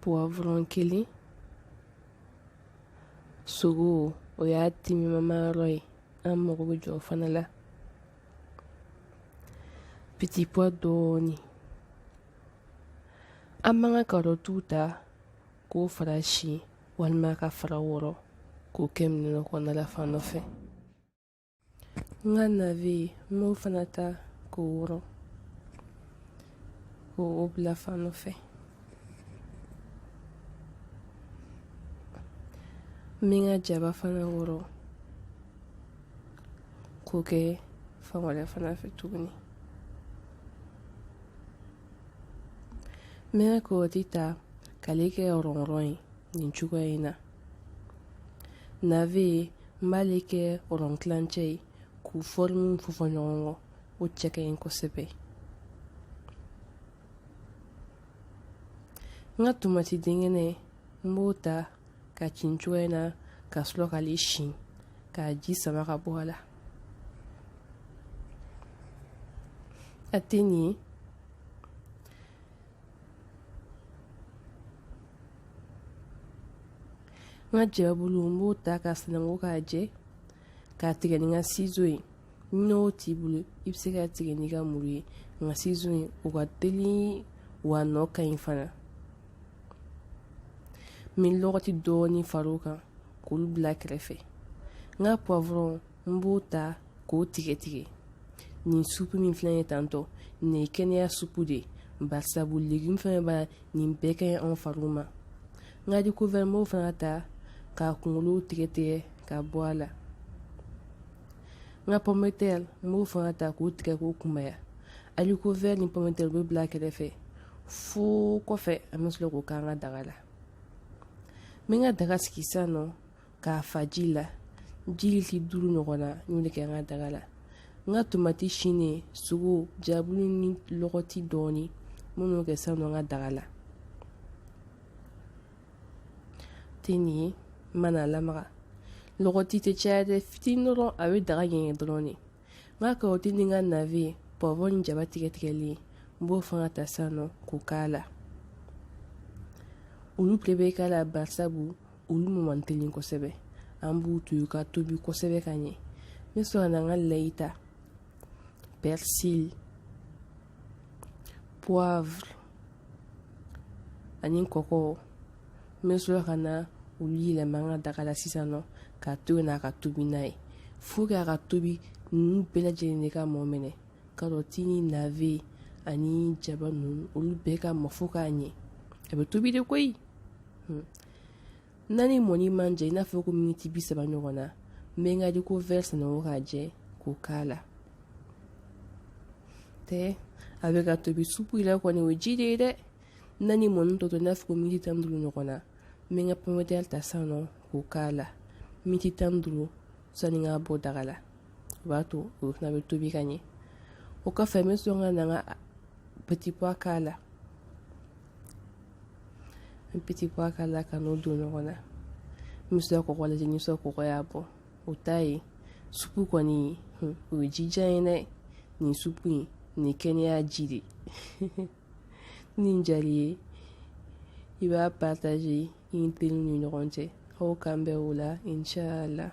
puwavurɔn kelen sogo o y'a timimama yɔrɔ ye an mago bɛ jɔ o fana la pitipuwa dɔɔni an b'an ka karɔtiw ta k'o fara si walima k'a fara wɔrɔ k'o kɛ minɛn kɔnɔna la fan dɔ fɛ n ka nave n b'o fana ta k'o wɔrɔ k'o bila fan dɔ fɛ n bɛ n ka jaba fana wɔrɔ k'o kɛ fan wɛrɛ fana fɛ tuguni n bɛ n ka karɔti ta k'ale kɛ rɔn rɔn ye nin cogoya in na nave n b'ale kɛ rɔn kilancɛ ye k'u fɔrimu fɔfɔ ɲɔgɔn kɔ o cɛ ka ɲi kosɛbɛ n ka tomati denkɛnɛ n b'o ta k'a ci nin cogoya in na ka sɔrɔ k'ale sin k'a ji sama ka bɔ a la a tɛ nin n ka jababulu n b'o ta k'a sananko k'a jɛ k'a tigɛ ni n ka sizo ye n'o t'i bolo i bɛ se k'a tigɛ n'i ka muru ye n ka sizo ye o ka teli wa a nɔ ka ɲi fana n bɛ lɔgɔti dɔɔni far'o kan k'olu bila kɛrɛfɛ n ka puwavurɔn n b'o ta k'o tigɛ tigɛ nin supu min filɛ nin ye tantɔ nin ye kɛnɛya supu de ye barisabu legume fɛn b'a la nin bɛɛ ka ɲi anw fariw ma n ka arikovɛri n b'o fana ta k'a kunkolo tigɛ tigɛ ka bɔ a la n ka pɔmitɛri n b'o fana ta k'o tigɛ k'o kunbaya arikovɛri ni pɔmitɛri bɛ bila kɛrɛfɛ fo kɔfɛ an bɛ sɔrɔ k'o k'an ka daga la n bɛ n ka daga sigi sisan nɔ k'a fa ji la ji litiri duuru ɲɔgɔn na n y'o de kɛ n ka daga la n ka tomati sinnen sogo jababulu ni lɔgɔti dɔɔnin n b'o kɛ sisan nɔ n ka daga la tɛ nin ye n mana lamaga lɔgɔti tɛ caya dɛ fitinin dɔrɔn a bɛ daga ɲɛgɛn dɔrɔn de n ka karɔti ni n ka nave puwavurɔn ni jaba tigɛ tigɛlen n b'o fana ta sisan nɔ k'o k'a la olu bɛɛ bɛ k'a la barisabu olu mɔ man teli kosɛbɛ an b'u to yen ka tobi kosɛbɛ ka ɲɛ n bɛ sɔrɔ ka na n ka layi ta persil poivre ani kɔkɔ n bɛ sɔrɔ ka na olu yɛlɛma n ka daga la sisan nɔ k'a to yen n'a ka tobi n'a ye fo k'a ka tobi ninnu bɛɛ lajɛlen de ka mɔ minɛ karɔti ni navet ani jaba ninnu olu bɛɛ ka mɔ fo ka ɲɛ a bɛ tobi de koyi n'a ni mɔni man jan i n'a fɔ ko miniti bi saba ɲɔgɔn na n bɛ n ka haricot vert sananko k'a jɛ k'o k'a la tɛ a bɛ ka tobi supu yɛrɛ kɔni o ye ji de ye dɛ n'a ni mɔni tɔ to i n'a fɔ ko miniti tan ni duuru ɲɔgɔn na n bɛ n ka pɔmɛtɛri ta sisan nɔ k'o k'a la miniti tan ni duuru sanni n k'a bɔ daga la o b'a to o fana bɛ tobi ka ɲɛ o kɔfɛ n bɛ sɔrɔ ka na n ka petit pois k'a la petit pois k'a la ka n'o don ɲɔgɔn na n bɛ sɔrɔ ka kɔkɔ lajɛ ni sɔrɔ kɔkɔ y'a bɔ o t'a ye supu kɔni o ye jijan ye dɛ nin supu in nin kɛnɛya ji de nin diyar'i ye i b'a partager i ni teriw ni ɲɔgɔn cɛ aw k'an bɛn o la inchallah